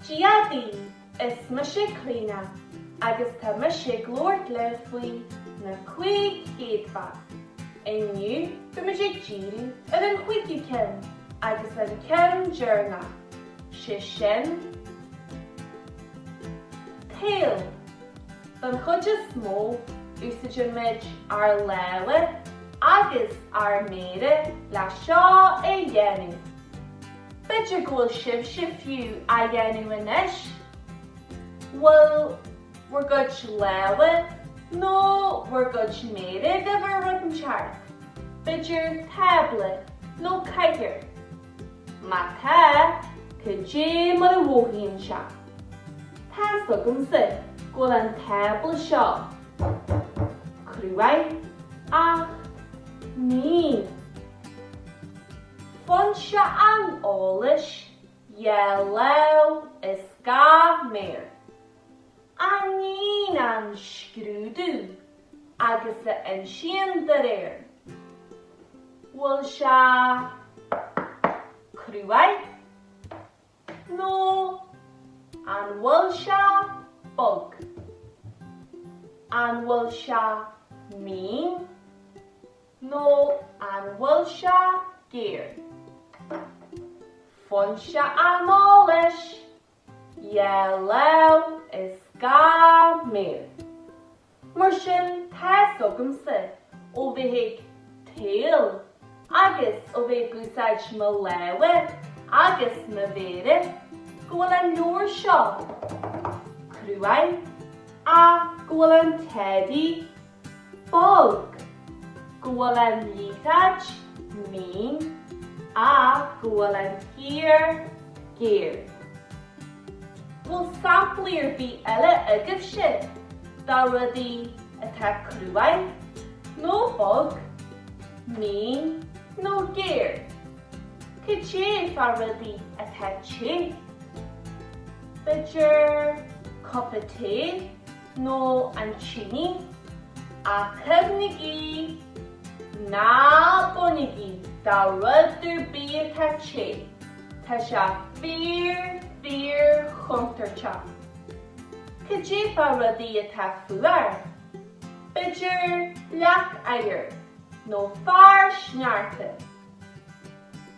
Dia dhaoibh, is mise Clíona agus tá mise ag labhairt libh faoi Na Cúig Chéadfa. Inniu beimid ag díriú ar an chuigiú ceann agus an ceann deireanach, sé sin, tadhall. Don chuid is mó, úsáidimid ár lámha agus ár méara le seo a dhéanamh. B'fhéidir go bhfuil sibhse fiú á dhéanamh anois? Bhfuil bhur gcuid lámha nó bhur gcuid méara ar bharr rud inteacht, b'fhéidir tábla nó cathaoir? Má tá, cad é mar a mhothaíonn sé? Tá's agamsa go bhfuil an tábla seo cruaidh, ach mín. Foinse an eolais, dhá láimh is gach méar. A níonn an scrúdú agus a insíonn dá réir an bhfuil sé cruaidh nó an bhfuil sé bog, an bhfuil sé mín nó an bhfuil sé géar. Foinse an eolais! Dhá láimh is gach méar. Mar sin, tá's agamsa ó bheith ag tadhall agus ó bheith ag úsáid mo lámha agus mo mhéara go bhfuil an leabhar seo cruaidh ach go bhfuil an teddy bog, go bhfuil an liathróid, mín, ach go bhfuil an chíor, géar. Bhfuil samplaí ar bith eile agaibhse de rudaí atá cruaidh, nó bog, mín nó géar? Cad é fá rudaí atá te? B'fhéidir cupa tae? nó an tine, ach cuimhnigí, ná bainigí de rud ar bith atá te, tá sé fíor fíor chontúirteach. Cad é fá rudaí atá fuar? B'fhéidir leac oighir nó fear sneachta.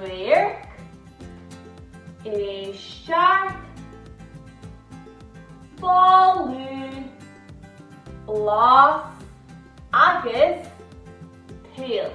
radharc éisteacht boladh blas agus tadhall.